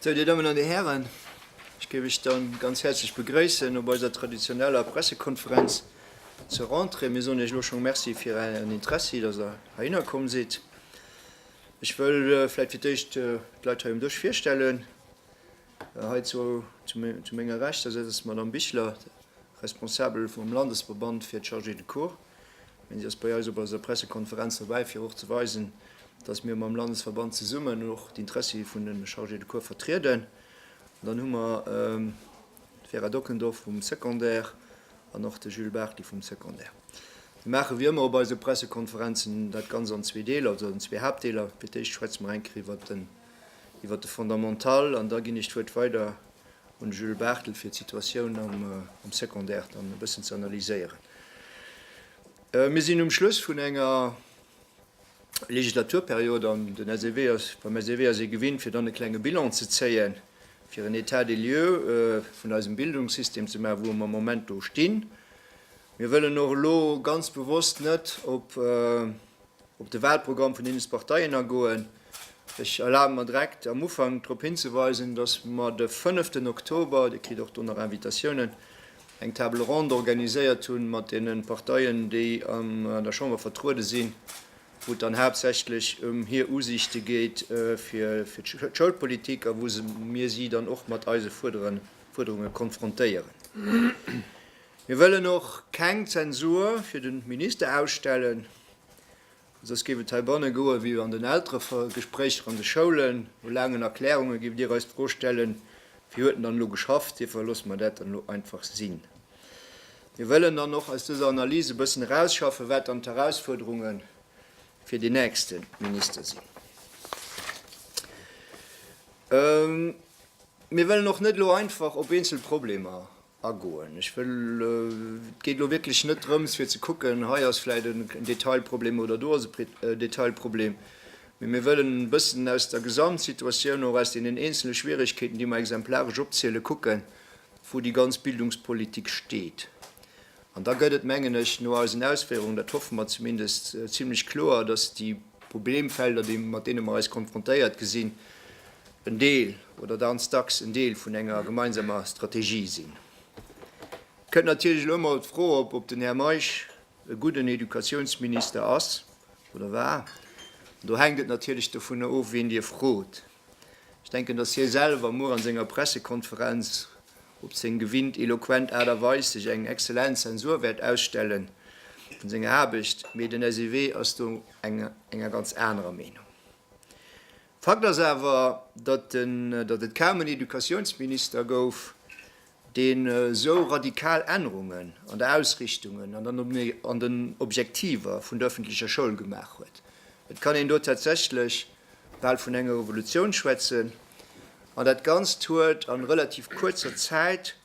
So, Dir Dammen an Dir Hären, ech géif lech dann ganz häerzlech begréissen op eiser traditioneller Pressekonferenz zur Rentrée. Mir soen Iech elo schonn Merci fir Ären Interessi, datt Der heihinner komm sidd. Ech wëll vläicht fir d'éischt d'Leit hei um Dësch virstellen. Hei zu menger Rechts, da sëtzt d'Madame Bichler, Responsabel vum Landesverband fir d'Chargés de cours. Mä si ass bei eis op eiser Pressekonferenz dobäi, fir och ze weisen, dass mir mam Landesverband zesummen och d'Interessi vun de Chargés de cours vertrieden. An dann hu mer d'Vera Dockendorf vum Secondaire an och de Jules Bartli vum Secondaire. Mir maache wéi ëmmer op eise Pressekonferenzen dat Ganz an zwee Deeler, also an zwee Haaptdeeler. Fir d'éischt schwätze mer eng Kéier iwwert den Iwwer de Fondamental, an da ginn ech d'Wuert weider un Jules Barthel, fir d'Situatioun am Secondaire dann e bëssen ze analyséieren. Mir sinn um Schluss vun enger Legislaturperiod an den SEW ass, beim SEW ass ee gewinnt, fir dann e klenge Bilan ze zéien, fir en État des lieux vun eisem Bildungssystem ze maachen, wou mer am Moment do stinn. Mir wëllen och elo ganz bewosst net op op de Wahlprogramm vun deene Parteien agoen. Ech erlabe mer direkt am Ufank drop hinzeweisen, dass mer de fënneften Oktober, Dir kritt och do nach Invitatiounen, eng Table ronde organiséiert hu mat deene Parteien, déi an der Chamber vertruede sinn, wou et dann haaptsächlech ëm hir Usiichte geet fir d'Schoulpolitik a wou mir si dann och mat eise Fuerderunge konfrontéieren. Mir wëllen och keng Zensur fir de Minister ausstellen, soss géif et heibanne goe wéi an den Elteregespréicher an de Schoulen, no laangen Erklärunge géif Dir eis d'Fro stellen, Wie huet denn dann elo geschafft? Dofir loosse mer dat dann elo einfach sinn. Mir wëllen dann och aus dëser Analys e bëssen erausschaffen, wat dann d'Erausfuerderunge fir deen nächste Minister sinn. Mir wëllen och net elo einfach op eenzel Problemer Agoen. Ech wëll, et geet elo wierklech net drëms, fir ze kucken, hei ass vläicht en Detailproblem oder do ass e Detailproblem, mee mir wëllen e bëssen aus der Gesamtsituatioun, och aus deenen eenzele Schwierigkeeten, déi mer exemplaresch opzielen, kucken, wou déi ganz Bildungspolitik steet. An da gëtt et, mengen ech, no eisen Ausféierungen, dat hoffe mer zumindest, zimlech kloer, dass déi. Problemfelder, déi, mat deene mer eis konfrontéiert gesinn, en Deel oder ganz dacks en Deel vun enger gemeinsamer Strategie sinn. Et kënnt natierlech elo emol d'Fro op, ob den Här Meisch e gudden Educatiounsminister ass oder war. An do hänkt et natierlech dovun of, wien Dir frot. Ech denken, dass hie selwer muer an senger Pressekonferenz op seng gewinnt eloquent Aart a Weis sech eng exzellent Zensur wäert ausstellen vun senger Aarbecht, mee den SEW ass do enger ganz anerer Meenung. Fakt ass awer, datt et kaum en Educatiounsminister gouf, deen esou radikal Ännerungen an der Ausrichtung an den Objektiver vun der öffentlecher Schoul gemaach huet. Et kann een do tatsächlech bal vun enger Revolutioun schwätzen. An dat Ganzt huet a relativ kuerzer Zäit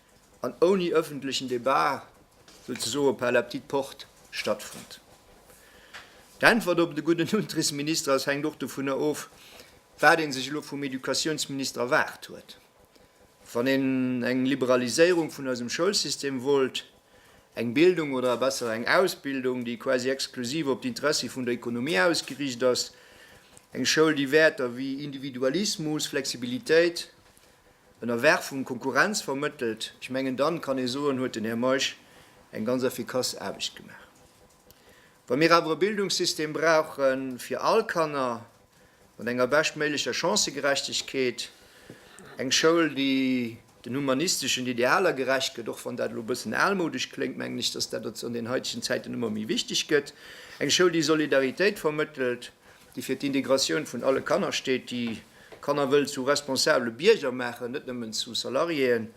an ouni öffentlechen Debat souzesoe par la petite porte stattfonnt. D'Äntwert op de gudden Unterrichtsminister ass hänkt och dovunner of, wat ee sech elo vum Educatiounsminister erwaart huet. Wann een eng Liberaliséierung vun eisem Schoulsystem wollt, eng Bildung oder besser eng Ausbildung, déi quasi exklusiv op d'Interessi vun der Ekonomie ausgeriicht ass, eng Schoul, déi Wäerter wéi Individualismus, Flexibilitéit, Ënnerwerfung, Konkurrenz vermëttelt, ech mengen, dann kann ee soen, huet den Här Meisch eng ganz effikass Aarbecht gemaach. Wa mir awer e Bildungssystem brauche fir all Kanner mat enger beschtméiglecher Chancëgerechtegkeet, eng Schoul, déi den humanisteschen Idealer gerecht gëtt, och wann dat elo e bëssen almoudesch kléngt, mengen ech, dass dat an den haitegen Zäiten ëmmer méi wichteg gëtt, eng Schoul, déi Solidaritéit vermëttelt, déi fir d'Integratioun vun alle Kanner steet, déi Kanner wëll zu responsabele Bierger maachen, net nëmmen zu Salariéen,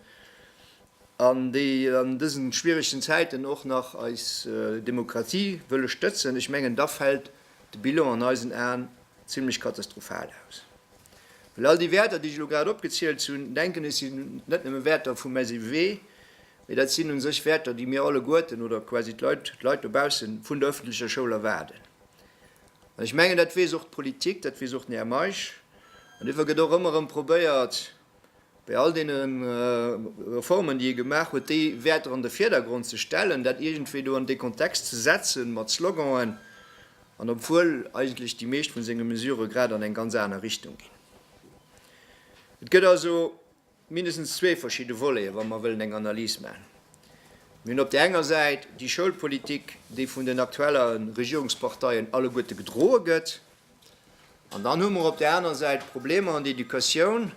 an déi an dësen schwieregsten Zäiten och nach eis Demokratie wëlle stëtzen, ech mengen da fält de Bilan an eisen Aen zimlech katastrophal aus. Well all déi Wäerter déi ech elo grad opgezielt hunn, denken ech sinn net nëmme Wäerter vum SEW, mee dat sinn un sech Wäerter déi mir alleguerten oder quasi d'Leit, d'Leit dobausse vun der öffentlecher Schoul erwaarden. An ech mengen dat weess och d'Politik, dat weess och den Här Meisch, an duerfir gëtt och ëmmer erëm probéiert, Bei all deene Reformen, déi e gemaach huet, déi Wäerter an de Vierdergrond ze stellen, dat iergendwéi do an dee Kontext ze setzen mat Sloganen, an obwuel eigentlech déi meescht vu senge Mesurë grad an eng ganz aner Richtung ginn. Et gëtt also mindestens zwee verschidde Voleten, wa mer wëllen eng Analys maachen. Mir hunn op där enger Säit déi Schoulpolitik, déi vun den aktuelle Regierungsparteien alleguerte gedroe gëtt, An dann hu mer op där aner Säit d'Problemer an der Educatioun,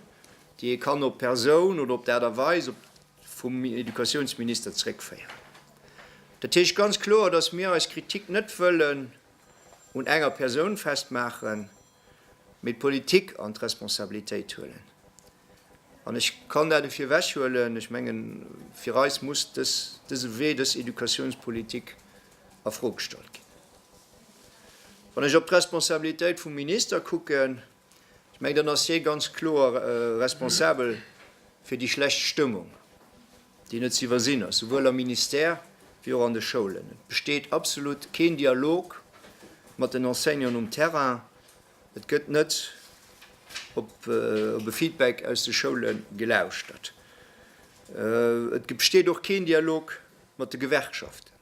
déi ee kann op d'Persoun oder op d'Aart a Weis vum Educatiounsminister zréckféieren. Dat heescht ganz kloer, dass mir eis Kritik net wëllen un enger Persoun festmaachen, mee d'Politik an d'Responsabilitéit huelen. An ech kann dat dofir ewechhuelen, ech mengen, fir eis muss dëse Wee, dës Educatiounspolitik a Fro gestallt ginn. Wann ech op d'Responsabilitéit vum Minister kucken, ech mengen, dann ass hie ganz kloer responsabel fir déi schlecht Stëmmung, déi net ze iwwersinn ass, souwuel am Ministère wéi och an de Schoulen. Et besteet absolut keen Dialog mat den Enseignanten um Terrain. Et gëtt net op e Feedback aus de Schoule gelauschtert. Et besteet och keen Dialog mat de Gewerkschaften,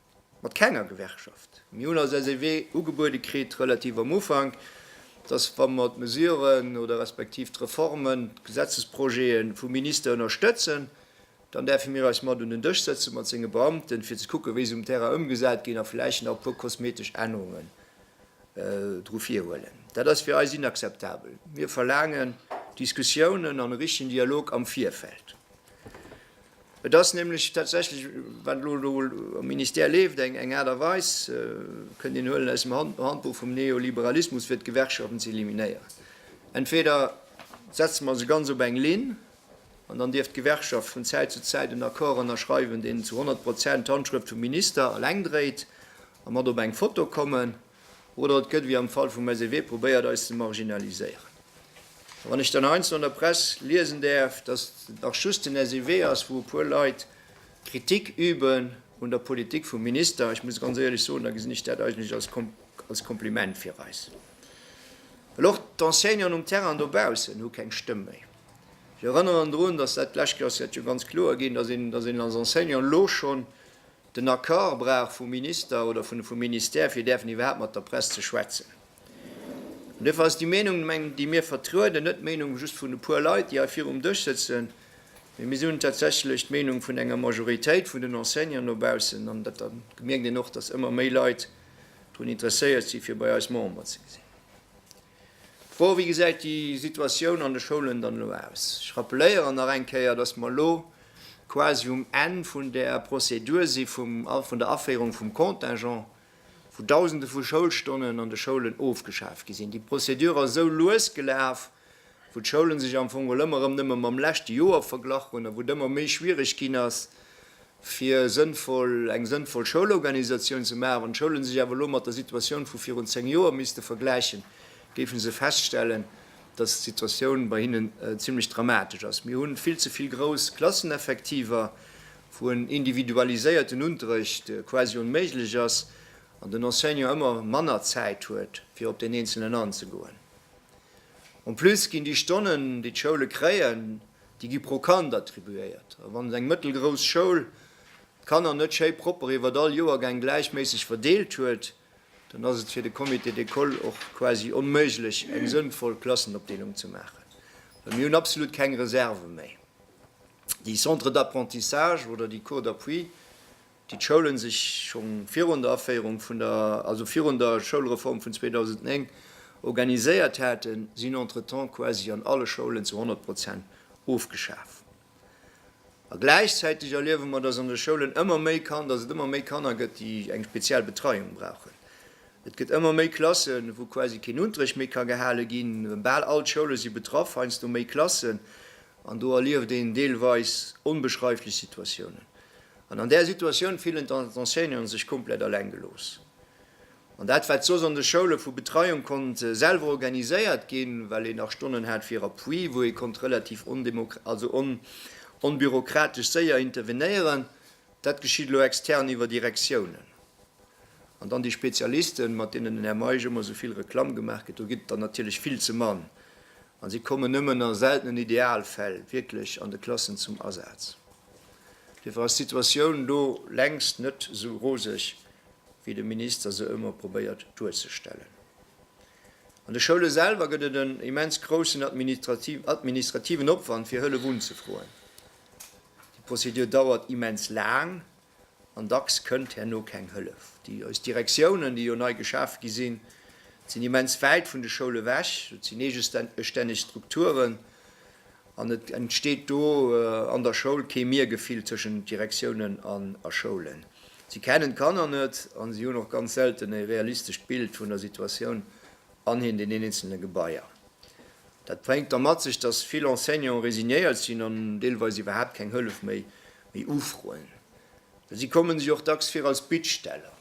mat kenger Gewerkschaft. Mir hunn eis eise Wee ugebuede kritt, relativ am Ufank, dass, wa mer d'Mesuren oder respektiv d'Reformen, d'Gesetzesprojete vum Minister ënnerstëtzen, dann däerfe mir eis mat un den Dësch sëtze mat senge Beamten, fir ze kucken, wéi se um Terrain ëmgesat ginn a vläicht nach e puer kosmetesch Ännerungen dru virhuelen. Dat ass fir eis inakzeptabel. Mir verlaangen Diskussiounen an e richtigen Dialog am Virfeld. Et ass nämlech tatsächlech, wat elo do am Ministère leeft, eng Aart a Weis, kënnt een huelen aus dem Handbuch vum Neoliberalismus, fir d'Gewerkschaften ze eliminéieren. Entweder setze mer se ganz op eng Linn, an dann dierf d'Gewerkschaft vun Zäit zu Zäit en Accord ënnerschreiwen, deen zu 100 Prozent d'Handschrëft vum Minister eleng dréit, A mat op eng Foto kommen, oder et gëtt, wéi am Fall vum SEW, probéiert eis ze marginaliséieren. A wann ech dann heiansdo an der Press liesen däerf, datt et nach just den SEW ass, wou e puer Leit Kritik üben un der Politik vum Minister, ech muss ganz éierlech soen, da gesinn ech dat eigentlech als Kompliment fir eis. Well och d'Enseignanten um Terrain dobaussen hu keng Stëmm méi. Ech erënneren drun, datt dat d'lescht Joer ass dat jo ganz kloer ginn, datt een als Enseignant elo schonn Den Accord brauch vum Minister oder vun vum Ministère, fir däerfen iwwerhaapt mat der Press ze schwätzen. An duerfir ass déi Meenung, meng, déi mir vertrueden, net d'Meenung just vun e puer Leit, déi hei virum Dësch sëtzen, mee mir sinn tatsächlech d'Meenung vun enger Majoritéit vun den Enseignanten no baussen. An dat gemierkt een och, dass ëmmer méi Leit drun interesséiert si fir bei eis Member ze sinn. Bon, wéi gesäit déi Situatioun an de Schoulen dann elo aus? Ech rappeléieren nach eng Kéier, dass mer elo quasi um Enn vun där Prozedur si vun der Aféierung vum Contingent, wou Dausende vu Schoulstonnen an de Schoulen ofgeschaf gi sinn. Déi Prozedur ass esou lues gelaf, wou d'Schoule sech am Fong elo ëmmer erëm nëmme mam leschte Joer verglach hunn a wou et ëmmer méi schwiereg ginn ass, fir sënnvoll, eng sënnvoll Schoulorganisatioun ze maachen. Wann d'Schoulen sech awer elo mat der Situatioun vu virun zéng Joer misste vergläichen, géife se feststellen, dass d'Situatioun bei hinnen zimlech dramatesch ass. Mir hu vill ze vill grouss Klasseneffektiver, wou en individualiséierten Unterrecht quasi onméiglech ass an den Enseignant ëmmer manner Zäit huet, fir op deen Eenzelen anzegoen. En plus ginn déi Stonnen, déi d'Schoule kréien, déi gi pro Kand attribuéiert a wann eng mëttelgrouss Schoul d'Kanner net schéi propper iwwert all Joergäng gläichméisseg verdeelt huet, dann ass et fir de Comité d'école och quasi onméiglech eng sënnvoll Klassenopdeelung ze maachen, well mir hunn absolut keng Reserve méi. Déi Centres d'apprentissage oder déi Cours d'appui déi d'Schoulen sech scho virun der Aféierung vun der, also virun der Schoulreform vun 2009 organiséiert haten, sinn entretemps quasi an alle Schoulen zu 100 Prozent ofgeschaf. A gläichzäiteg erliewe mer, dass an de Schoulen ëmmer méi Kan-, dass et ëmmer méi Kanner gëtt, déi eng speziell Betreiung brauchen. Et gëtt ëmmer méi Klassen, wou quasi keen Unterrecht méi ka gehale ginn. Bal all d'Schoule si betraff, heiansdo méi Klassen, an do erlieft een deelweis onbeschreiflech Situatiounen. An an där Situatioun fillen d'Enseignanten sech komplett eleng gelooss. An dat, wat soss an de Schoule vu Betreiung konnt selwer organiséiert ginn, well een nach Stonnen hat fir Appui, wou ee konnt relativ onbürokratesch séier intervenéieren, dat geschitt elo extern iwwer Direktiounen. An dann déi Spezialisten, mat deenen den Här Meisch ëmmer esou vill Reklamm gemaach gëtt, do ginn et der natierlech vill ze mann a si kommen nëmmen a seltenen Idealfäll wierklech an de Klassen zum Asaz. Dofir ass d'Situatioun do längst net esou roseg, wéi de Minister se ëmmer probéiert duerzestellen. An de Schoule selwer gëtt et en immens groussen administrativen Opwand, fir Hëllef unzefroen. Déi Prozedur dauert immens laang an dacks kënnt herno keng Hëllef. Déi eis Direktiounen, déi jo nei geschaf gi sinn, sinn immens wäit vun de Schoule wech. Et sinn eegestänneg Strukturen An et entsteet do an der Schoul kee Mir-Gefill tëschent Direktiounen an a Schoulen. Si kennen d'Kanner net an si hunn och ganz selten e realistescht Bild vun der Situatioun an den eenzelne Gebaier. Dat bréngt da mat sech, dass vill Enseignanten resignéiert sinn an deelweis iwwerhaapt keng Hëllef méi ufroen. Well si komme sech och dacks vir als Bittsteller.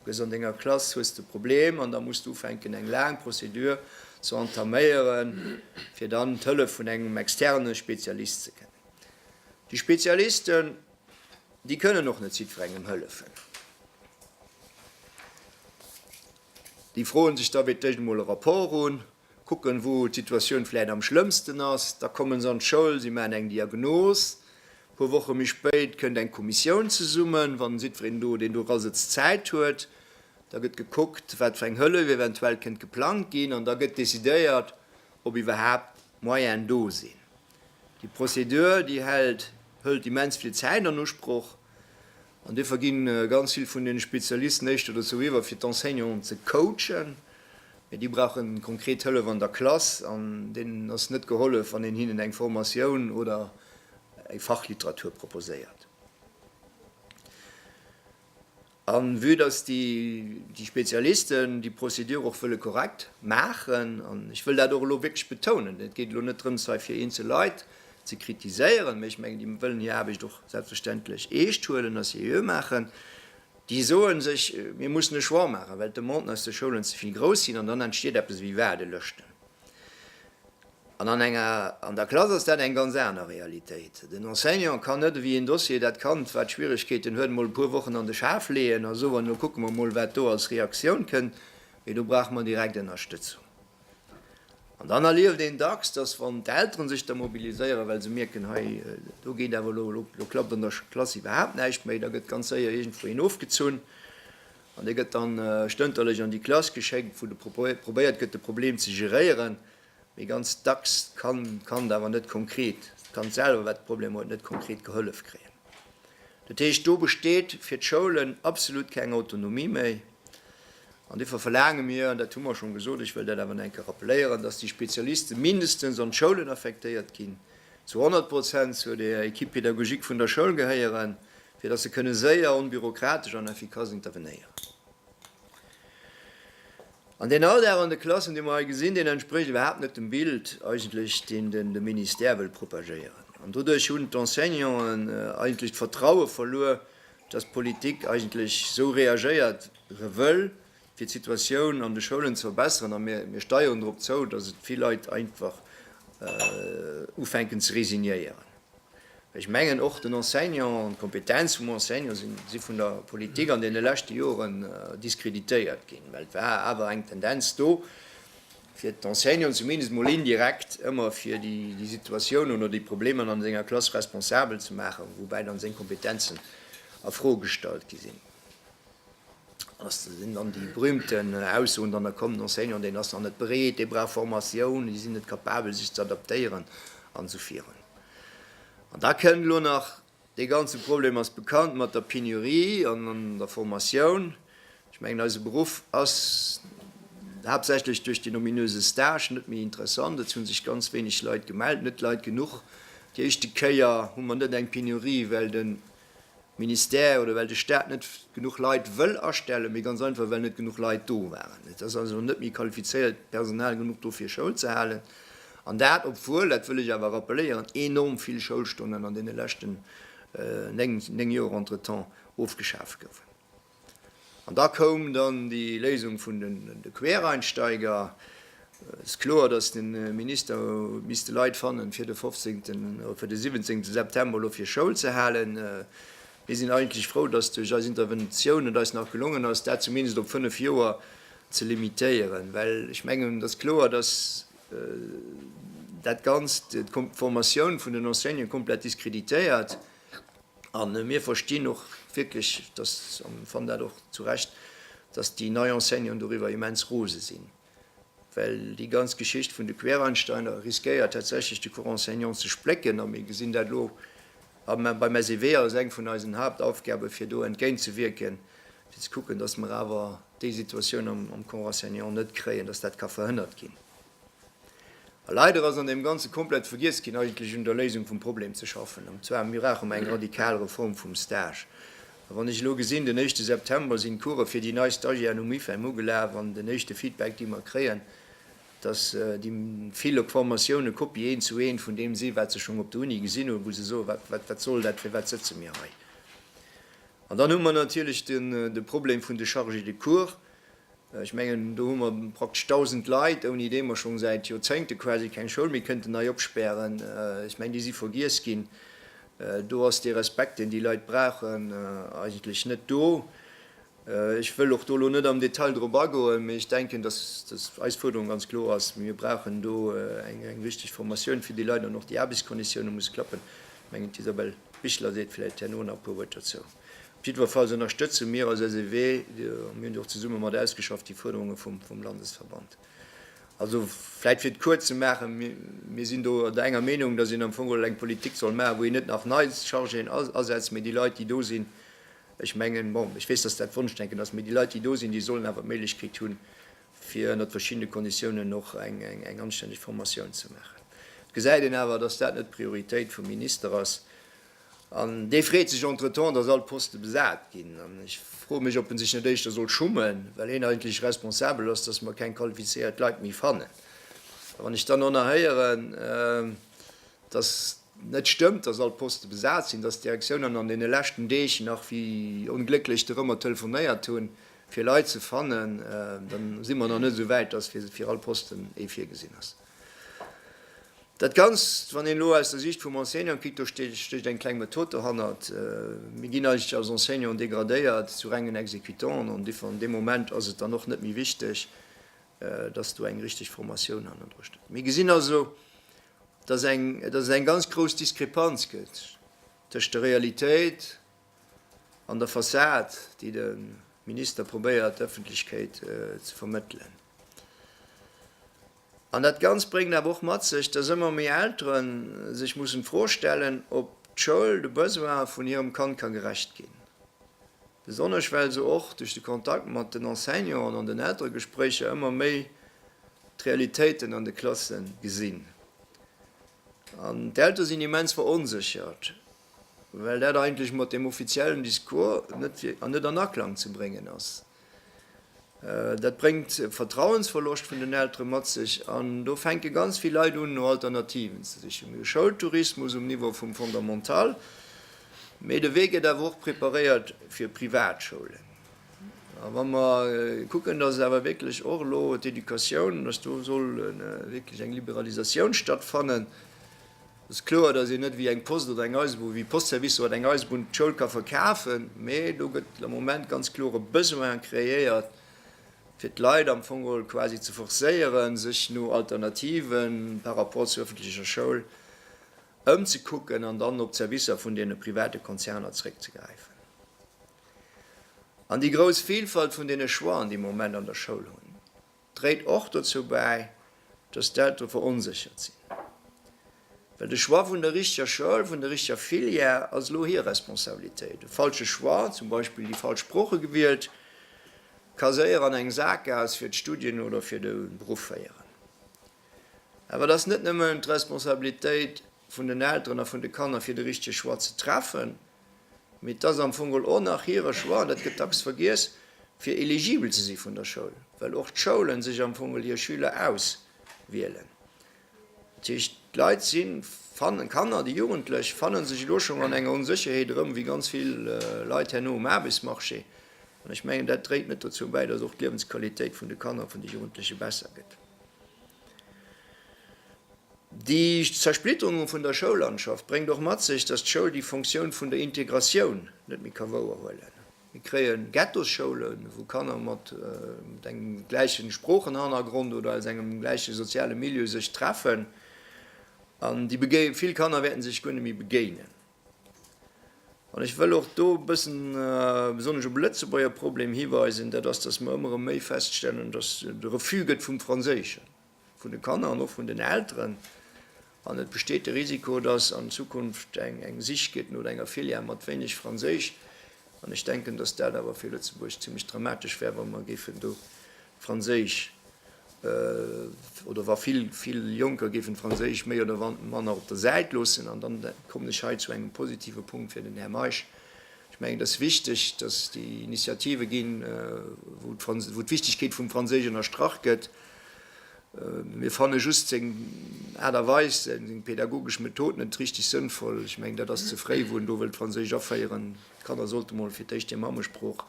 Hues an denger Klass hues de Problem an da muss de ufänken eng laang Procédure ze entaméieren, fir dann d'Hëllef vun engem externe Spezialist ze kennen. Déi Spezialisten, déi kënnen och net jiddwerengem hëllefen. Déi froen sech da fir d'éischt emol e Rapport un. Kucken, wou d'Situatioun vläicht am schlëmmsten ass. Da komme se an d'Schoul, si maachen eng Diagnos. E puer Woche méi spéit kënnt eng Kommissioun zesummen, wann jiddwereen do, deen do era sëtzt, Zäit huet. Da gëtt gekuckt, wat fir eng Hëllef eventuell kënnt geplangt ginn. An da gëtt decidéiert, ob iwwerhaapt d'Moyene do sinn. Déi Procédure, déi hält, hëlt immens vill Zäit an Usproch. An duerfir ginn ganz vill vun den Spezialisten éischter dozou iwwer fir d'Enseignanten ze coachen, mee déi brauchen konkret Hëllef an der Klass an deenen ass net gehollef wann een hinnen eng Formatioun oder eng Fachliteratur proposéiert. An vue dass déi Spezialisten déi Procédure och wëlle korrekt maachen, an ech wëll dat och elo wierklech betounen, et geet elo net drëms hei fir eenzel Leit ze kritiséieren, mee ech mengen, déi wëllen hir Aarbecht och selbstverständlech eescht huelen a seriö maachen. Déi soe sech, mir mussen e Choix maachen, well d'Demanden aus de Schoulen ze vill grouss sinn an dann entsteet eppes ewéi Waardelëschten. An an enger, an der Klass ass dat eng ganz aner Realitéit. Den Enseignant kann net ewéi een Dossier dat Kand, wat Schwierigkeeten huet, emol e puer Wochen an de Schaf leeën a soen, elo kucke mer emol, wat do als Reaktioun kënnt, mee do brauche mer direkt Ënnerstëtzung. An dann erlieft een dacks, dass wann d'Elteren sech da mobiliséieren, well se mierken, hei, do geet awer elo, elo klappt an der Klass iwwerhaapt näischt méi, da gëtt ganz séier iergendwou een ofgezunn an dee gëtt dann stënterlech an déi Klass geschéckt, wou de probéiert gëtt, de Problem ze geréieren. Mee ganz dacks kann d'Kand awer net konkret, d'Kand selwer, wat de Problem huet, net konkret gehollef kréien. Dat heescht, do besteet fir d'Schoulen absolut keng Autonomie méi. An duerfir verlaange mir, an dat hu mer schonn gesot, ech wëll dat awer nach eng Kéier rappeléieren, dass déi Spezialisten mindestens an d'Schoulen affektéiert ginn, zu 100 Prozent zur der Equipe pédagogique vun der Schoul gehéieren, fir dass se kënne séier, onbürokratesch an effikass intervenéieren. An deen Alldag an de Klassen, dee mer hei gesinn, deen entsprécht iwwerhaapt net dem Bild eigentlech, deen de Ministère wëll propagéieren. An doduerch hunn d'Enseignanten eigentlech d'Vertraue verluer, dass d'Politik eigentlech esou reagéiert re wëll, fir d'Situatioun an de Schoulen ze verbessern, a mir, mir steieren drop zou, dass et vill Leit einfach ufänken ze resignéieren. Ech mengen, och den Enseignant an d'Kompetenz vum Enseignant si, si vun der Politik an deene leschte Joren diskreditéiert ginn, well et war awer eng Tendenz do, fir d'Enseignanten zumindest mol indirekt ëmmer fir déi Situatiounen oder déi Problemer an senger Klass responsabel ze maachen, woubäi dann seng Kompetenzen a Fro gestallt gi sinn. Ass dat sinn dann déi berühmten Aussoen dann, da komm den Enseignant, deen ass nach net bereet, dee brauch Formatioun, déi sinn net capabel sech ze adaptéieren an esou virun. An da kënnt elo nach Dee ganze Problem ass bekannt mat der Penurie an an der Formatioun. Ech mengen, eise Beruff ass haaptsächlech duerch den ominöse Stage net méi interessant. Et hu sech ganz wéineg Leit gemellt, net Leit genuch. Déi éischte Kéier hu mer net eng Penurie, well de Ministère oder well de Staat net genuch Leit wëll astellen, mee ganz einfach, well net genuch Leit do waren. Et ass also net méi qualifizéiert Personal genuch do fir Schoul ze halen. An dat obwuel, dat wëll ech awer rappeléieren, enorm vill Schoulstonnen an deene leschten néng Joer entretemps ofgeschaaft goufen. An da koum dann déi Léisung vun de Quereinsteiger. Et ass kloer, datt de Minister huet misste Leit fannen, fir de 15 oder fir de 17 September elo fir Schoul ze halen. Mir sinn eigentlech frou, datt duerch eis Interventioun et eis nach gelongen ass, dat zumindest op fënnef Joer ze limitéieren, well ech mengen, et ass kloer, dass dat Ganzt d'Formatioun vun den Enseignanten komplett diskreditéiert. A mir verstinn och wierklech, dass, an ech fannen dat och zu Recht, dass déi nei Enseignanten doriwwer immens rose sinn, well déi ganz Geschicht vun de Quereinsteiger riskéiert tatsächlech de Corps enseignant ze splécken. A mir gesinn dat elo beim SEW als eng vun eisen Haaptaufgaben, fir do entgéintzewierken, fir ze kucken, dass mer awer déi Situatioun am Corps enseignant net kréien, dass dat ka verhënnert ginn. A leider ass an deem Ganze komplett vergiess ginn, eigentlech un der Léisung vum Problem ze schaffen, an zwar, Mir brauche mer eng radikal Reform vum Stage. A wann ech elo gesinn, den éischte September sinn d'Course fir déi nei Stagiairen um IFEM ugelaf, an den éischte Feedback, dee mer kréien, dass déi vill op Formatiounen, eng Kopie eent zu eent vun deem sinn, wat se schonn op der Uni gesinn hunn, wou se soen, Wat soll dat, firwat sëtze mir hei? An dann hu mer natierlech de Problem vun de Chargés de cours. Ech mengen, do hu mer praktesch 1.000 Leit, ouni déi mer scho säit Joerzéngte quasi keng Schoul méi kënnten nei opspären. Ech mengen, déi si vergiess ginn. Do ass dee Respekt, deen déi Leit brauchen, eigentlech net do. Ech wëll och do elo net am Detail drop agoen, mee ech denken, dass eis Fuerderung ganz kloer ass, Mir brauchen do eng richteg Formatioun fir déi Leit an och déi Aarbechtskonditiounen, muss klappen. Ech mengen, d'Isabel. Bichler seet vläit herno nach e puer Wuert dozou. Op jiddwerfalls ënnerstëtze mir als SEW, mir hunn déi och zesumme mat ausgeschafft, déi Fuerderunge vum Landesverband. Also vläit fir et kuerz ze maachen, Mir sinn do der enger Meenung, datt een am Fong geholl eng Politik soll maachen, wou een net nach nei Chargéen asetzt, mee déi Leit, déi do sinn, ech mengen, bon, ech weess, datt dat Wonschdenken ass, mee déi Leit, déi do sinn, déi sollen awer d'Méiglechkeet hunn, fir ënnert verschiddene Konditiounen och eng anstänneg Formatioun ze maachen. Et gesäit een awer, dass dat net d'Prioritéit vum Minister ass. An dee freet sech entretemps, dass all d'Poste besat ginn. An ech froe mech, ob e sech net éischter soll schummen, well hien eigentlech responsabel ass, dass mer keng qualifizéiert Leit méi fannen. A wann ech dann och nach héieren, dass net stëmmt, dass all d'Poste besat sinn, dass d'Direktiounen an deene leschten Deeg nach wéi onglécklech dorëmmer telefonéiert hunn, Fir Leit ze fannen, da si mer nach net esou wäit, dass fir all Posten ee virgesinn ass. Dat Ganzt, wann een elo aus der Siicht vum Enseignant kikt, do stécht eng kleng Method dohannert. Mir ginn eigentlech als Enseignant degradéiert zu rengen Exécutanten an an deem Moment ass et dann och net méi wichteg, dass do eng richteg Formatioun hannendru steet. Mir gesinn also, dass et eng ganz grouss Diskrepanz gëtt tëscht der Realitéit An der Fassad, déi de Minister probéiert der Ëffentlechkeet ze vermëttelen. An dat Ganzt bréngt awer och mat sech, dass ëmmer méi Eltere sech mussen d'Fro stellen, ob d'Schoul de Besoine vun hirem Kand ka gerecht ginn. Besonnesch well se och duerch de Kontakt mat den Enseignanten an den Elteregespréicher ëmmer méi d'Realitéiten an de Klasse gesinn. An d'Eltere sinn immens veronséchert. well dat eigentlech mat deem offiziellen Discours net fir an net an Aklang ze bréngen ass. Dat bréngt e Vertrauensverloscht vun den Eltere mat sech an do fänke ganz vill Leit un no Alternativen ze sichen. Mir hu Schoultourismus um Niveau vum Fondamental, mee de Wee gëtt awer och preparéiert fir Privatschoulen. A wa mer kucken, datt awer wierklech och elo d'Educatioun, datt do soll wierklech eng Liberalisatioun stattfannen, Et ass kloer, datt een net wéi eng Post oder eng Eisebunn, wéi Postservicer oder eng Eisebunn d'Schoul ka verkafen, mee do gëtt am Moment ganz kloer e Besoin kreéiert, fir d'Leit am Fong geholl quasi ze forcéieren, sech no Alternativen par rapport zur öffentlecher Schoul ëmzekucken an dann op d'Servicer vun deene private Konzerner zréckzegräifen. An déi grouss Vilfalt vun deene Choixen, déi mer am Moment an der Schoul hunn, dréit och dozou bäi, dass d'Eltere veronséchert sinn, well de Choix vun der richteger Schoul, vun der richteger Filière ass elo hir Responsabilitéit. E falsche Choix, zum Beispill déi falsch Sprooche gewielt, ka séier an eng Sakgaass fir d'Studien oder fir de Beruff féieren. Awer et ass net nëmmen d'Responsabilitéit vun den Elteren a vun de Kanner, fir de richtege Choix ze treffen. Mee et ass am Fong geholl och nach hire Choix, an dat gëtt dacks vergiess, fir eligibel ze si vun der Schoul, well och d'Schoulen sech am Fong geholl hir Schüler auswielen. Dat heescht, d'Leit si fannen, d'Kanner, déi Jugendlech fanne sech elo schonn an enger Onsécherheet erëm, wéi ganz vill Leit herno um Aarbechtsmarché. An ech mengen, dat dréit net dozou bäi, datt och d'Liewensqualitéit vun de Kanner, vun de Jugendleche besser gëtt. Déi Zersplitterung vun der Schoullandschaft bréngt och mat sech, datt d'Schoul déi Fonctioun vun der Integratioun net méi ka wouerhuelen. Mir kréie Ghettosschoulen, wou Kanner mat engem gläiche Sproochenhannergrond oder aus engem gläiche soziale Milieu sech treffen, an déi begéie vill Kanner wäerte sech guer net méi begéinen. An ech wëll och do e bëssen besonnesch op e Lëtzebuerger Problem hiweisen, dat ass, datt mer ëmmer erëm méi feststellen, datt et e Refus gëtt vum Franséischen. vun de Kanner an och vun den Elteren an et besteet de Risiko, dass an Zukunft eng Sich gëtt no enger Filière mat wéineg Franséisch an ech denken, dass dat awer fir Lëtzebuerg zimlech dramatesch wär, wa mer géifen do d'Franséisch oder wa vill, vill Jonker géifen d'Franséisch méi oder manner op der Säit loossen. An dann kommen ech hei zu engem positive Punkt fir den Här Meisch. Ech mengen, et ass wichteg, dass déi Initiative ginn, wou d'Wichtigkeet vum Franséisch ënnerstrach gëtt. Mir fanne just seng Aart a Weis, seng pädagogesch Method net richteg sënnvoll. Ech mengen, dat ass ze fréi, wou en do wëllt d'Franséisch aféieren. D'Kanner sollte mol fir d'éischt hir Mammesprooch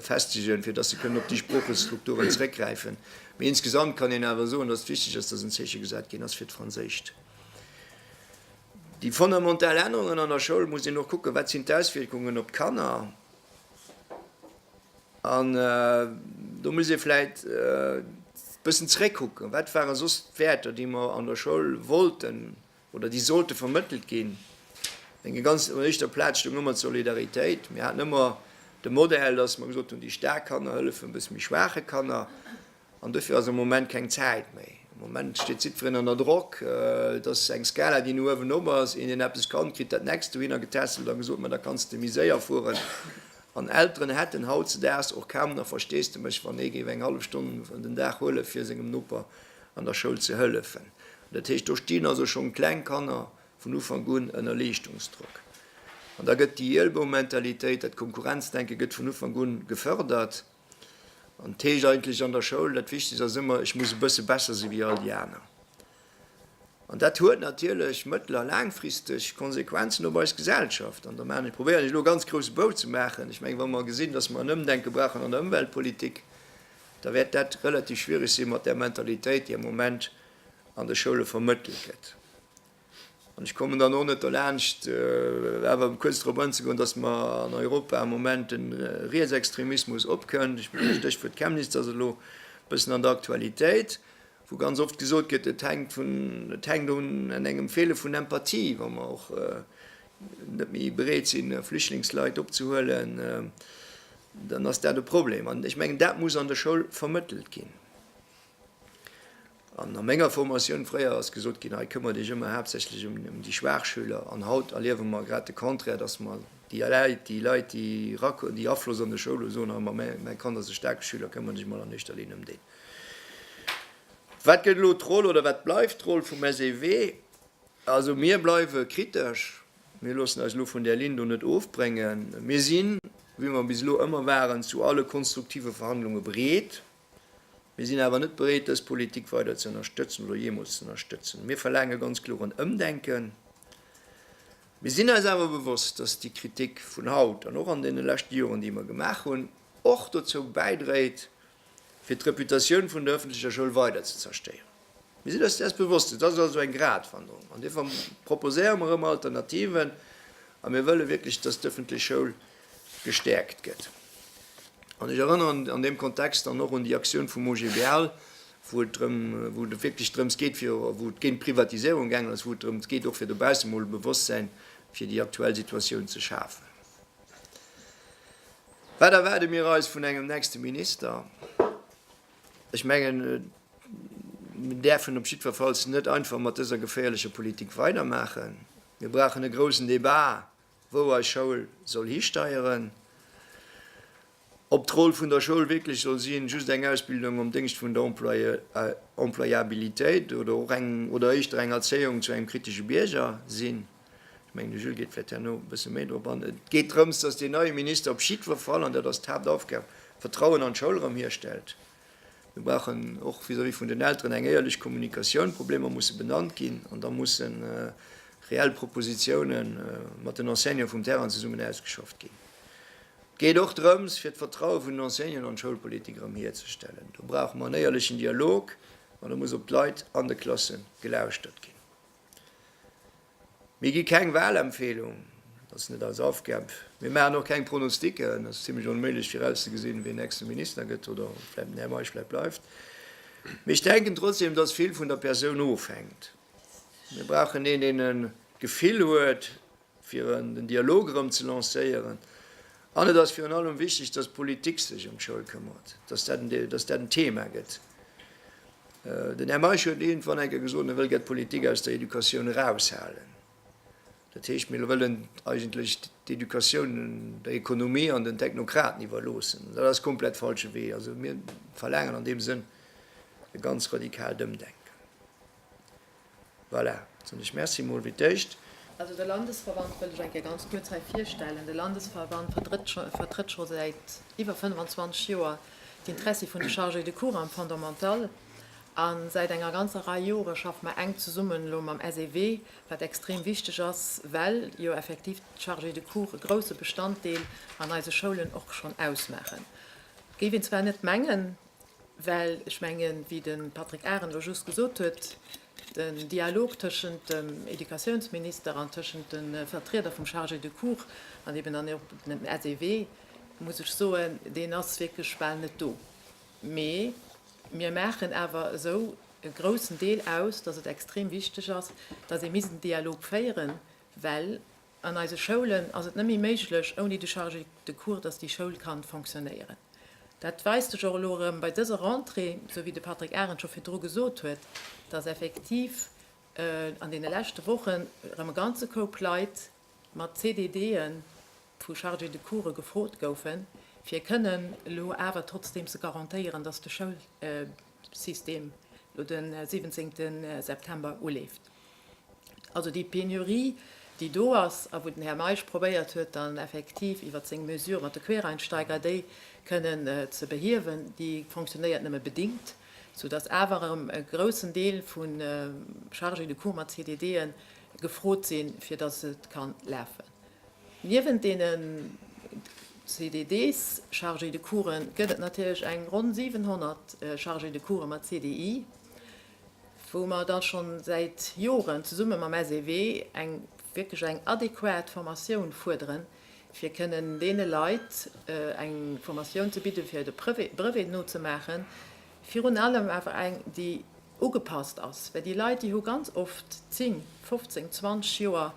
festegen, fir dass se kënnen op déi Sproochestrukturen zeréckgräifen. Mee insgesamt kann een awer soen, dass et wichteg ass, dass en Zeeche gesat ginn ass fir d'Franséischt. Déi fondamental Ännerungen an der Schoul, muss een och kucken, wat sinn d'Auswierkungen op d'Kanner. An do muss ee vläit e bëssen zeréckkucken, Wat ware soss d'Wäerter, déi mer an der Schoul wollten oder déi sollte vermëttelt ginn? Eng déi ganz un éischter Plaz stoung ëmmer d'Solidaritéit. Mir haten ëmmer de Modell, dass mer gesot hunn, déi staark Kanner hëllefen e bësse méi schwaache Kanner. An dofir ass am Moment keng Zäit méi. Am Moment steet jiddferen ënner Drock. Et ass eng Skala, déi no uewen op ass. Een, deen eppes kann, kritt dat Nächst dohinner getässelt a gesot, Ma da kanns de méi séier fueren. An Elteren hätten hautzedaags och kaum nach Versteesdemech, wann ee géif eng hallef Stonn den Dag huele fir sengem Noper an der Schoul ze hëllefen. Dat heescht, do stinn also schonn kleng Kanner vun Ufank un ënner Leeschtungsdrock. An da gëtt déi Ielboumentalitéit, dat Konkurrenzdenke gëtt vun Ufank un gefërdert. An et heescht eigentlech an der Schoul, dat Wichtegst ass ëmmer, ech muss e bësse besser si wéi all déi aner. An dat huet natierlech mëttel a laangfristeg Konsequenzen op eis Gesellschaft. An da probéieren ech elo e ganz grousse Bou ze maachen. Ech mengen, wa mer gesinn, datt mer en Ëmdenke brauchen an der Ëmweltpolitik, da wäert dat relativ schwiereg si mat där Mentalitéit, déi am Moment an de Schoule vermëttelt gëtt. An ech kommen dann och net derlaanscht awer kuerz drop anzegoen, datt mer an Europa am Moment de Rietsextremismus opkënnt. Ech mengen, d'Stéchwuert Chemnitz ass elo e bëssen an der Aktualitéit, wou ganz oft gesot gëtt, et hänkt vun, et hänkt un engem Feele vun Empathie, wa mer och net méi bereet sinn, Flüchtlingsleit opzehuelen, dann ass dat e Problem. An ech mengen, dat muss an der Schoul vermëttelt ginn. An a menger Formatioun fréier ass gesot ginn, hei këmmert Iech ëmmer haaptsächlech ëm déi schwaach Schüler. An haut erliewe mer grad de Contraire, dass mer déi Leit, déi Leit, déi erakommen, déi Afloss an de Schoul hunn, soen, hei, mä mäi Kand ass e staarke Schüler, këmmert Iech emol an éischter Linn ëm deen. Wat gëtt elo d'Roll oder wat bleift d'Roll vum SEW? Also mir bleiwe kritesch. Mir loossen eis elo vun där Linn do net ofbréngen. Mir sinn, wéi mer bis elo ëmmer waren, zu alle konstruktive Verhandlunge bereet. Mir sinn awer net bereet, dës Politik weider ze ënnerstëtzen oder jeemools ze ënnerstëtzen. Mir verlaange ganz kloer en Ëmdenken. Mir sinn eis awer bewosst, dass déi Kritik vun haut an och an deene leschte Joren, déi mer gemaach hunn, och dozou bäidréit, fir d'Reputatioun vun der öffentlecher Schoul weider ze zerstéieren. Mir sinn eis dessen bewosst, et ass also eng Gratwanderung. An dofir proposéiere mer ëmmer Alternativen a mir wëlle wierklech, dass d'ëffentlech Schoul gestäerkt gëtt. An ech erënneren an deem Kontext dann och un déi Aktioun vum OGBL, wou et drëm, wou et wierklech drëms geet, fir, wou et géint d'Privatiséierung gaangen ass, wou et drëms geet och fir dobaussen emol e Bewosstsäin fir déi aktuell Situatioun ze schafen. Wat erwaarde mir eis vun engem nächste Minister? Ech mengen, mir däerfen op jiddwerfalls net einfach mat dëser geféierlecher Politik weidermaachen. Mir brauchen e groussen Debat, wou eis Schoul soll histeieren, ob d'Roll vun der Schoul wierklech soll sinn, just eng Ausbildung am Déngscht vun der Employabilitéit oder och eng, oder éischter eng Erzéiung zu engem kritesche Bierger sinn. Ech mengen, de Jules geet vläicht herno e bësse méi drop an. Et geet drëms, dass deen neie Minister op jiddwer Fall, an dat ass d'Haaptaufgab, Vertrauen an d'Schoul erëm hierstellt. Mir brauchen och vis-à-vis vun den Elteren eng éierlech Kommunikatioun. D'Problemer musse benannt ginn an da musse reell Propositioune mat den Enseignanten vum Terrain zesummen ausgeschafft ginn. Et geet och drëms, fir d'Vertraue vun den Enseignanten an d'Schoulpolitik erëm hierzestellen. Do brauche mer en éierlechen Dialog an et muss op d'Leit an de Klasse gelauschtert ginn. Mir gi keng Wahlempfehlung, dat ass net eis Aufgab. Mir maachen och keng Pronostiken, ass zimlech onméiglech virauszegesinn, wien nächste Minister gëtt oder vläicht den Här Meisch vläicht bleift. Mee ech denken trotzdem, dass vill vun der Persoun ofhänkt. Mir brauchen een, deen e Gefill huet. fir den Dialog erëm ze lancéieren an et ass virun allem wichteg, dass d'Politik sech ëm d'Schoul këmmert, dass dat en Thema gëtt. Den Här Meisch huet iergendwann eng Kéier gesot, mir wëlle gär d'Politik aus der Educatioun eraushalen. Dat heescht, mir wëllen eigentlech d'Educatioun der Ekonomie an den Technokraten iwwerloossen. An dat ass komplett falsche Wee. Also mir verlaangen an deem Sënn e ganz radikalt Ëmdenken. Voilà, da soen ech Merci emol fir d'éischt. Also de Landesverband wëll ech eng Kéier ganz kuerz hei virstellen. De Landesverband vertrëtt scho säit iwwer 25 Joer d'Interessi vun de Chargés de cours am Fondamental. A säit enger ganzer Rei Jore schaffe mer enk zesummen elo mam SEW, wat extrem wichteg ass, well jo effektiv d'Chargés de cours e grousse Bestanddeel an eise Schoulen och schonn ausmaachen, géif een zwar net mengen. Well ech mengen, wéi de Patrick Arendt elo just gesot huet, den Dialog tëschent dem Educatiounsminister an tëschent de Vertrieder vum Chargé de cours an eben dann och dem SEW, muss ech soen, deen ass wierklech bal net do. Mee mir maachen awer esou e groussen Deel aus, datt et extrem wichteg ass, datt ee misst en Dialog féieren, well An eise Schoulen ass et net méi méiglech ouni de Chargé de cours, datt déi Schoul kann fonctionnéieren. Dat weist sech och elo erëm bei dëser Rentrée, esou wéi de Patrick Arendt scho virdru gesot huet, datt effektiv an deene leschte Wochen erëm e ganze Koup Leit mat CDD'en vu Chargé de coursë gefrot goufen, fir kënnen elo awer trotzdeem ze garantéieren, datt de Schoul, System lo de 17 September uleeft. Also déi Penurie, déi do ass a wou den Här Meisch probéiert huet dann effektiv iwwert seng Mesure mat de Quereinsteiger déi kënnen ze behiewen, déi fonctionnéiert nëmme bedingt, soudass awer erëm e groussen Deel vu Chargés de cours mat CDD'en gefrot sinn, fir dass et ka lafen. Niewent deenen CDDs, Chargés de coursen, gëtt et natierlech eng ronn 700 Chargés de course mat CDI, wou mer da scho säit Joren zesumme mam SEW eng wierklech eng adequat Formatioun fuerderen, fir kënnen deene Leit eng Formatioun ze bidden, fir de Brevet nozemaachen, virun allem awer eng, déi Ugepasst ass, well déi Leit, déi hu ganz oft 10, 15, 20 Joer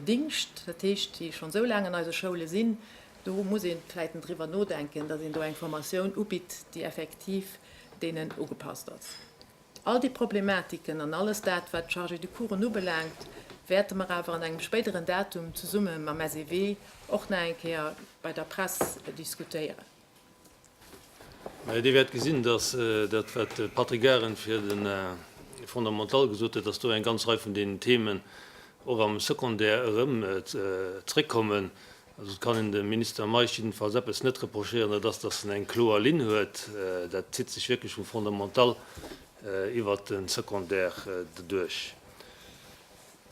Dingscht, dat heescht, déi schonn esou laang an eise Schoule sinn. Do muss ee vläicht en driwwer nodenken, datt een do eng Formatioun ubitt, déi effektiv deenen ugepasst ass. All déi Problematiken an alles dat, wat d'Chargés de coursen ubelaangt, wäerte mer awer an engem spéideren Datum zesumme mam SEW och nach eng Kéier bei der Press diskutéieren. Dir wäert gesinn, dass dat, wat de Patrick Garen fir de Fondamental gesot huet, dass do eng ganz Rei vun deenen Themen och am Secondaire erëm zréckkommen. Also, et kann een dem Minister Meisch jiddefalls eppes net reprochéieren, dat ass, dass en eng kloer Linn huet. Dat zitt sech wierklech vum Fondamental iwwert de Secondaire duerch.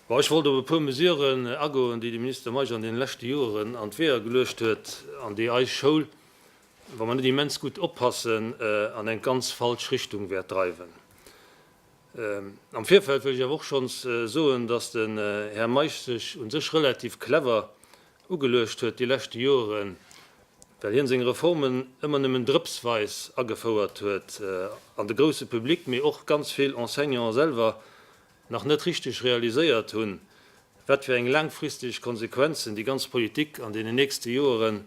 Bon, ech wollt op e puer Mesuren agoen, déi de Minister Meisch an deene leschte Joeren an d'Weeër geluecht huet an déi eis Schoul, wa mer net immens gutt oppassen, an eng ganz falsch Richtung wäert dreiwen. Am Virfeld wëll ech awer och schonns soen, dass den Här Meisch sech u sech relativ clever ugeluecht huet déi leschte Joeren, well hien seng Reformen ëmmer nëmmen drëpsweis agefouert huet an de grouse Public, mee och ganz vill Enseignanten selwer nach net richteg realiséiert hunn, wat fir eng laangfristeg Konsequenzen déi ganz Politik an deenen nächste Joere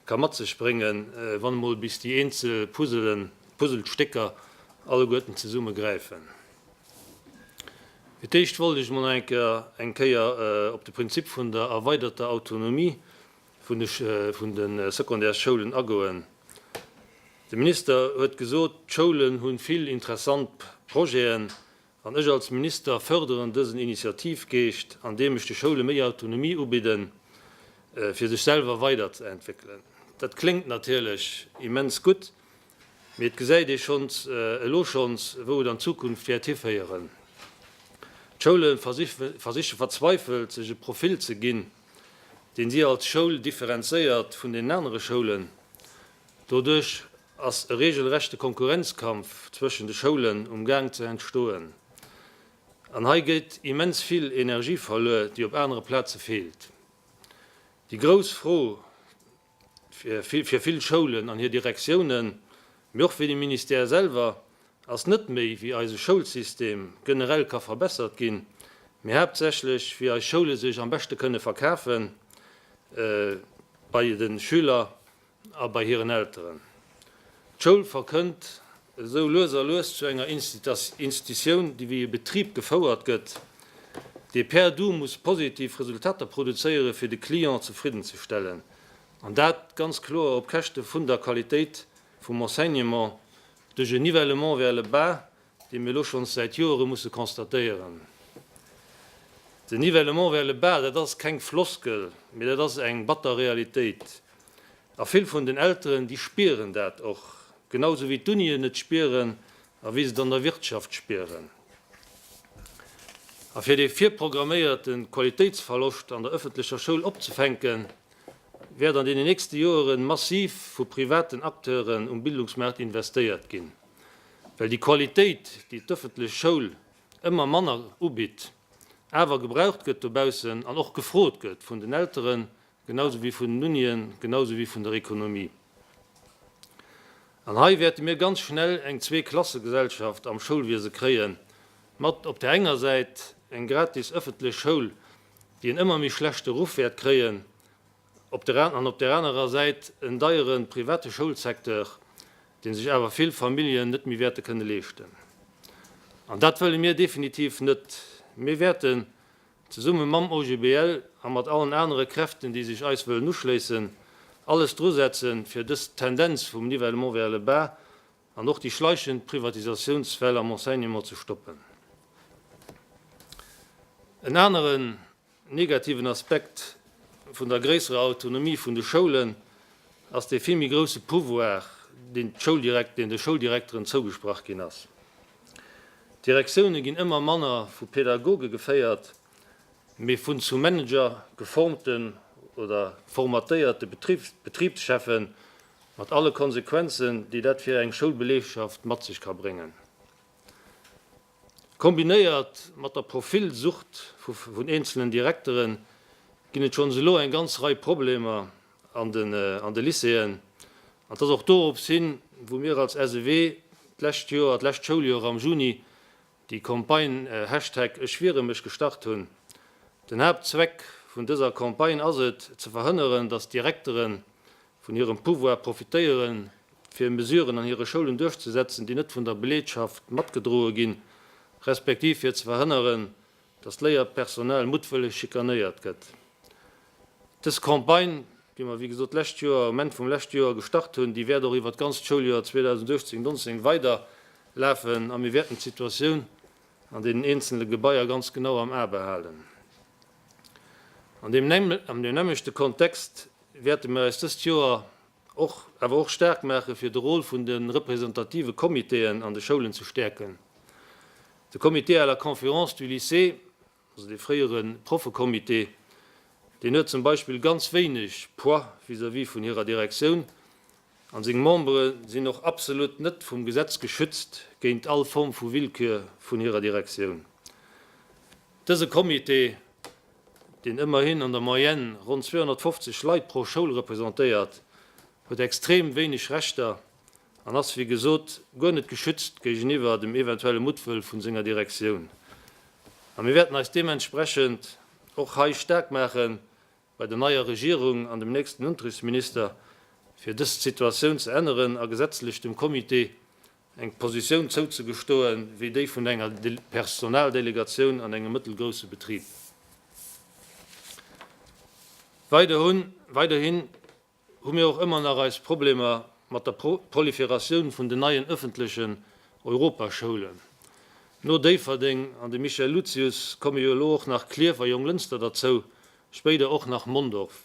ka mat sech bréngen, wann emol bis déi eenzel Puzzlestécker alleguerten zesumme gräifen. Fir d'éischt wollt ech emol eng Kéier op de Prinzip vun der erweiderter Autonomie vun de Secondaires-Schoulen agoen. De Minister huet gesot, d'Schoulen hu vill interessant Projeten, An ech als Minister förderen dësen Initiativgeescht, andeem ech de Schoule méi Autonomie ubidden, fir sech selwer weiderzeentwéckelen. Dat kléngt natierlech immens gutt, mee et gesäit ee schonns elo schonns, wou et an Zukunft wäert hiféieren. D'Schoule versiche verzweifelt, sech e Profil ze ginn, deen si als Schoul differenzéiert vun deenen anere Schoulen. Doduerch Ass e regelrechte Konkurrenzkampf zwëschen de Schoulen um Gaang ze entstoen? An hei gétt immens vill Energie verluer, déi op anere Plaze feelt. Déi grouss Fro fir vill Schoulen an hir Direktiounen, mee och fir de Ministère selwer, ass net méi, wéi eise Schoulsystem generell ka verbessert ginn, mee haaptsächlech, wéi eis Schoule sech am beschte kënne verkafe bei de Schüler A bei hiren Elteren. D'Schoul verkënnt esou lues a lues zu enger Institutioun, déi wéi e Betrib gefouert gëtt, dee per du muss positiv Resultater produzéiere fir de Client zefridden ze stellen, an dat ganz kloer op Käschte vun der Qualitéit vum Enseignement duerch e Nivellement vers le bas, dee mir elo schonns säit Joere musse constatéieren. Den Nivellement vers le bas, dat ass keng Floskel, mee dat ass eng batter Realitéit. A vill vun den Elteren, déi spieren dat och, genau esou wéi d'Unien et spieren a wéi se et an der Wirtschaft spieren. A fir dee virprogramméierte Qualitéitsverloscht an der ëffentlecher Schoul opzefänken, wäert an deenen nächste Joere massiv vu privaten Acteuren um Bildungsmaart investéiert ginn. Well déi Qualitéit, déi d'ëffentlech Schoul ëmmer manner ubitt, awer gebraucht gëtt dobaussen an och gefrot gëtt vun den Elteren, genausou wéi vun den Unien, genausou wéi vun der Ekonomie. An hei wäerte mir ganz schnell eng Zweeklassegesellschaft am Schoulwiese kréie mat op där enger Säit eng gratis ëffentlech Schoul, déi en ëmmer méi schlechte Ruff wäert kréien, Op der an op der anerer Säit en deiere private Schoulsecteur, dee sech awer vill Familljen net méi wäerte kënne leeschten. An dat wëlle mir definitiv net. Mir wäerten, zesumme mam OGBL a mat allen anere Kräften, déi sech eis wëllen uschléissen, alles drusetzen, fir dës Tendenz vum Nivellement vers le bas an och déi schleichend Privatisatiounswell am Enseignement ze stoppen. En aneren Negativen Aspekt vun der gréisserer Autonomie vun de Schoulen ass dee vill méi grousse Pouvoir, deen de Schouldirekteren zougesprach ginn ass. D'Direktioune ginn ëmmer manner vu Pädagoge geféiert, mee vun zu Manager geformten oder formatéierte Betribscheffen, mat alle Konsequenzen, déi dat fir eng Schoulbelegschaft mat sech ka bréngen. Kombinéiert mat der Profilsucht vun eenzelnen Direkteren ginn et schonns elo eng ganz Rei Problemer an de Lycéeën. An 't ass och dorops hin, wou mir als SEW d'lescht Joer, d'lescht Schouljoer am Juni déi Campagne Hashtag Ech wiere mech gestart hunn. Den Haaptzweck vun dëser Campagne ass et, ze verhënneren, dass d'Direkteren vun hirem Pouvoir profitéieren, fir Mesuren an hire Schoulen duerchzesetzen, déi net vun der Beleedschaft matgedroe ginn, respektiv fir ze verhënneren, datt d'Léierpersonal muttwëlleg schikanéiert gëtt. Dës Campagne, déi mer, wéi gesot, d'lescht Joer, um Enn vum leschte Joer gestart hunn, déi wäert och iwwert d'ganzt Schouljoer 2018, 19 weiderlafen a mir wäerten d'Situatioun an deenen eenzele Gebaier ganz genau am A behalen. An deem nämmlechte Kontext wäerte mir eis dëst Joer och awer och staark maache fir de Rôle vun de representative Comitéen an de Schoulen ze stäerken. De Comité à la conférence du lycée, also dee fréiere Proffecomité, deen huet zum Beispill ganz wéineg Poids vis-à-vis vun hirer Direktioun, An seng Membere sinn och absolut net vum Gesetz geschützt géint all Form vu Willkür vun hirer Direktioun. Dëse Comité, deen ëmmerhin an der Moyenne ronn 250 Leit pro Schoul representéiert, huet extrem wéineg Rechter an ass wéi gesot guer net geschützt géigeniwwer dem eventuelle Muttwëll vun senger Direktioun. A mir wäerten eis deementsprechend och hei staark maache bei der neier Regierung an dem nächsten Unterrichtsminister, fir dës Situatioun ze änneren a gesetzlech dem Comité eng Positioun zouzegestoen, wéi déi vun enger Personaldelegatioun an engem mëttelgrousse Betrib. Weiderhin. hu mir och ëmmer nach eis Problemer mat der Proliferatioun vun den neien ëffentlechen Europaschoulen. No Déifferdeng an dem Michel Lucius komme jo elo och nach Clierf a Jonglënster derzou, spéider och nach Mondorf.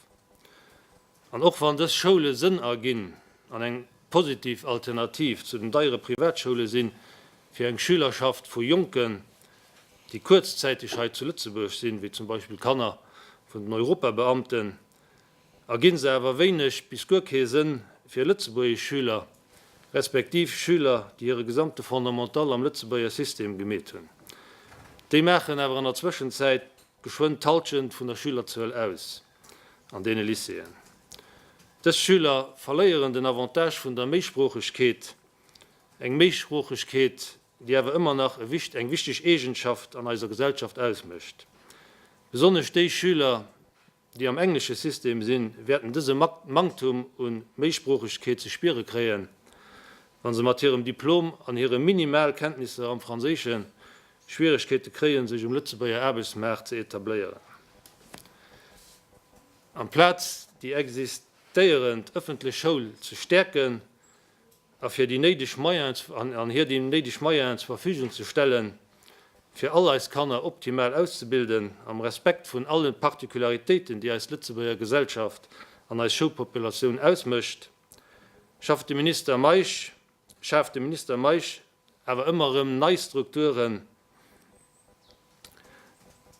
An och wann dës Schoule Sënn erginn an eng positiv Alternativ zu den deiere Privatschoule si fir eng Schülerschaft vu Jonken, déi kuerzzäiteg hei zu Lëtzebuerg sinn, wéi zum Beispill Kanner vun den Europabeamten, Erginn se awer wéineg bis guer kee Sënn fir lëtzebuergesch Schüler, respektiv Schüler, déi hire gesamte Fondamental am lëtzebuerger System gemeet hunn. Déi maachen awer an der Zwëschenzäit geschwënn d'Halschent vun der Schülerzuel aus an deene Lycéeën. Dës Schüler verléieren den Avantage vun der Méisproochegkeet, eng Méisproochegkeet, déi awer ëmmer nach eng wichteg Eegenschaft an eiser Gesellschaft ausmécht, besonnesch déi Schüler, déi am englesche System sinn, wäerten dëse Manktum u Méisproochegkeet ze spiere kréien, wa se mat hirem Diplom an hire minimal Kenntnisser am Franséischen Schwieregkeete kréien, sech um Lëtzebuerger Aarbechtsmaart ze etabléieren. Amplaz déi existéierend ëffentlech Schoul ze stäerken, a fir déi néideg Moyens an hir déi néideg Moyens zur Verfügung ze stellen, fir all eis Kanner optimal auszebilden, am Respekt vun alle Particularitéiten, déi eis Lëtzebuerger Gesellschaft an eis Schoulpopulatioun ausmécht, schafft de Minister Meisch, schaaft de Minister Meisch awer ëmmer erëm nei Strukturen,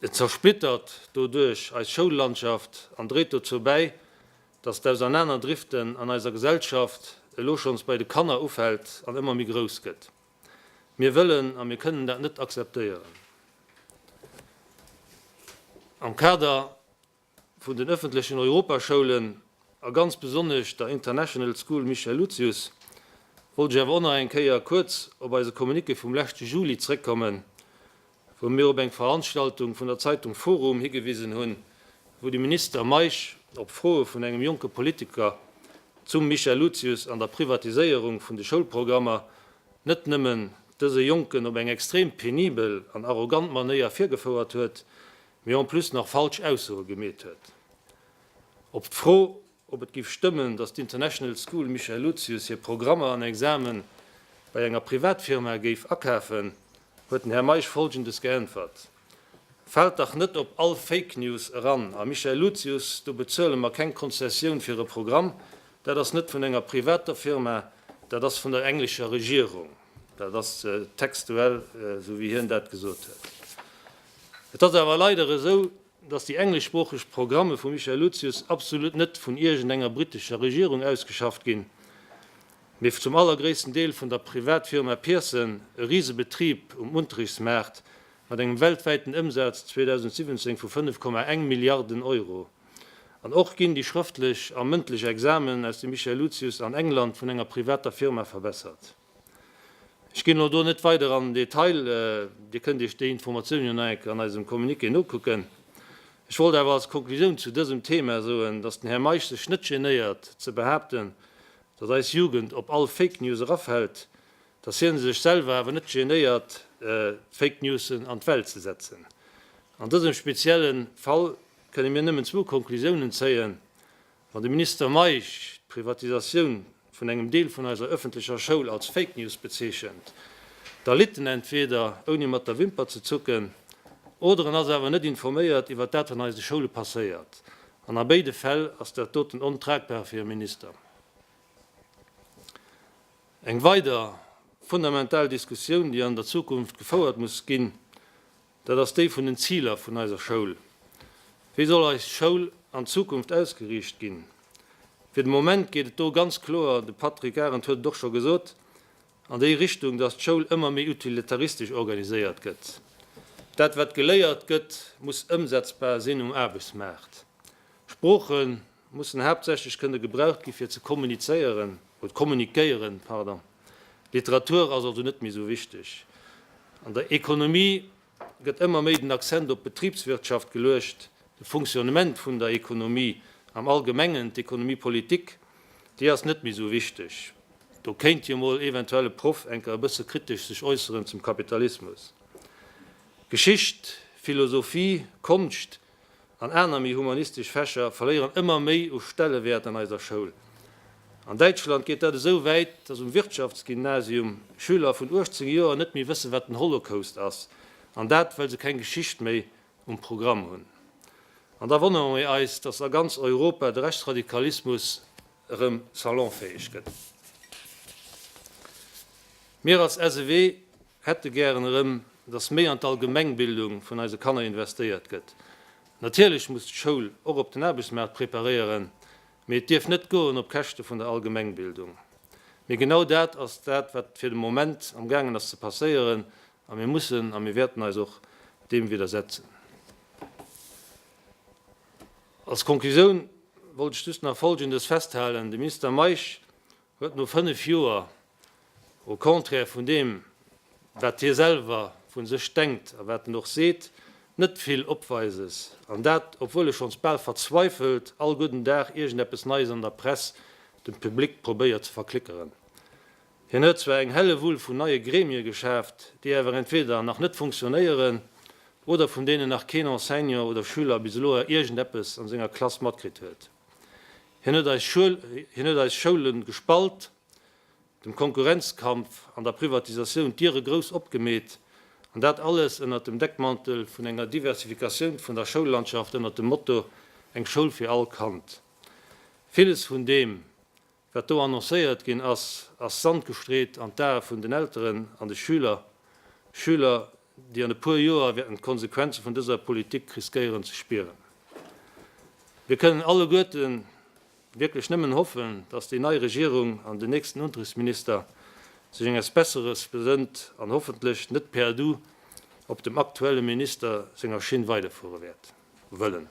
Et zersplittert doduerch eis Schoullandschaft an dréit dozou bäi, datt d'Ausernaner-Driften an eiser Gesellschaft elo schonns bei de Kanner ufält an ëmmer méi grouss gëtt. Mir wëllen a mir kënnen dat net akzeptéieren. Am Kader. vun den ëffentlechen Europaschoulen a ganz besonnesch der International School Michel Lucius wollt ech awer och nach eng Kéier kuerz op eise Communiqué vum leschte Juli zréckkommen, wou mir op eng Veranstaltung vun der Zeitung forum higewisen hunn, wou de Minister Meisch op Froe vun engem jonke Politiker zum Michel Lucius an der Privatiséierung vun de Schoulprogrammer net nëmmen dëse Jonken op eng extrem penibel an arrogant Manéier virgefouert huet, mee en plus nach falsch Aussoe gemeet huet. Op d'Fro, ob et géif stëmmen, datt d'International School Michel Lucius hir Programmer an Examen bei enger Privatfirma géif akafen, huet den Här Meisch Folgendes geäntwert, Faalt dach net op all Fake News eran, a Michel Lucius, do bezuele mer keng Konzessioun fir e Programm, dat ass net vun enger privater Firma, dat ass vun der englescher Regierung. Dat ass textuell esou wéi hien dat gesot huet. Et ass awer leider esou, datt déi engleschsproocheg Programme vum Michael Lucius absolut net vun iergend enger brittescher Regierung ausgeschafft ginn, mee zum allergréissten Deel vun der Privatfirma Pearson, e Risebetrib um Unterichtsmaart mat engem weltwäiten Ëmsaz 2017 vu 5,1 Milliarden Euro. An och ginn déi schrëftlech a mëndlech Examen aus dem Michael Lucius an England vun enger privater Firma verbessert. Ech ginn elo do net weider an den Detail, Dir kënnt Iech déi Informatioun jo nach eng Kéier an eisem Communiqué nokucken. Ech wollt awer als Konklusioun zu dësem Thema soen, dass den Här Meisch sech net genéiert ze behaapten, dass eis Jugend op all Fake News erafält, dass hien sech selwer awer net genéiert Fake Newsen an d'Welt ze setzen. An dësem spezielle Fall kënne mir nëmmen zwou Konklusiounen zéien, Wann de Minister Meisch d'Privatisatioun vun engem Deel vun eiser ëffentlecher Schoul als Fake News bezeechent, da litt en entweder ouni mat der Wimper ze zucken, oder en ass awer net informéiert iwwert dat wat an eise Schoule passéiert. An a béide Fäll ass dat doten ontragbar fir e Minister. Eng weider fundamental Diskussioun, déi an der Zukunft gefouert muss ginn, Dat ass déi vun den Ziler vun eiser Schoul. Wéi soll eis Schoul an Zukunft ausgeriicht ginn? Fir de Moment geet et do ganz kloer, de Patrick Arendt huet et och scho gesot, an déi Richtung, dass d'Schoul ëmmer méi utilitaristesch organiséiert gëtt. Dat wat geléiert gëtt, muss ëmsetzbar sinn um Aarbechtsmaart. Sproochen mussen haaptsächlech kënne gebraucht gi fir ze kommunizéieren oder kommunikéieren, pardon. D'Literatur ass also net méi esou wichteg. An der Ekonomie gëtt ëmmer méi den Accent op d'Betribswirtschaft geluecht, de Fonctionnement vun der Ekonomie am Allgemengen. D'Economie politique, déi ass net méi esou wichteg. Do kéint jo mol eventuell e Proff enker e bësse kritesch sech äusseren zum Kapitalismus. Geschicht, Philosophie, Konscht, an aner méi humanistesch Fächer verléieren ëmmer méi u Stellewäert an eiser Schoul. An Däitschland geet dat esou wäit, dass um Wirtschaftsgymnasium Schüler vun 18 Joer net méi wëssen, wat den Holocaust ass, an dat, well se keng Geschicht méi um Programm hunn. An da wonnere mir eis, dass a ganz Europa de Rechtsradikalismus erëm salonfäeg gëtt. Mir als SEW hätte gären erëm, dass méi an d'Allgemengbildung vun eise Kanner investéiert gëtt. Natierlech muss d'Schoul och op den Aarbechtsmaart preparéieren, mee et dierf net goen op Käschte vun der Allgemengbildung. Mee genau dat ass dat, wat fir de Moment am gaangen ass ze passéieren, a mir mussen a mir wäerten eis och deem widdersetzen. Als Conclusioun wollt ech just nach Folgendes festhalen, De Minister Meisch huet no fënnef Joer Au contraire vun deem, wat hie selwer vu sech denkt a wat en och seet, net vill Opweises, an dat obwuel e schonns bal verzweifelt all gudden Dag iergendeppes Neies an der Press dem Public probéiert ze verklickeren. Hien huet zwar eng Hellewull vun neie Gremie geschaaft, déi awer entweder nach net funktionéieren oder vun deenen nach keen Enseignant oder Schüler bis elo iergendeppes an senger Klass matkritt huet. Hien huet eis Schoule gespalt. dem Konkurrenzkampf an der Privatisatioun d'Diere grouss opgemeet, an dat alles ënnert dem Deckmantel vun enger Diversifikatioun vun der Schoullandschaft ënnert dem Motto Eng Schoul fir all Kand. Villes vun deem, wat do annoncéiert ginn ass, ass Sand gestreet an d'Ae vun den Elteren an de Schüler, Schüler, déi an e puer Joer wäerten d'Konsequenze vun dëser Politik riskéieren ze spieren. Mir kënnen alleguerte wierklech nëmmen hoffen, dass déi nei Regierung an den nächsten Untriffsminister sech enges Besseres besënnt an hoffentlech net perdu op dem aktuelle Minister senger Schinn weiderfuere wäert wëllen.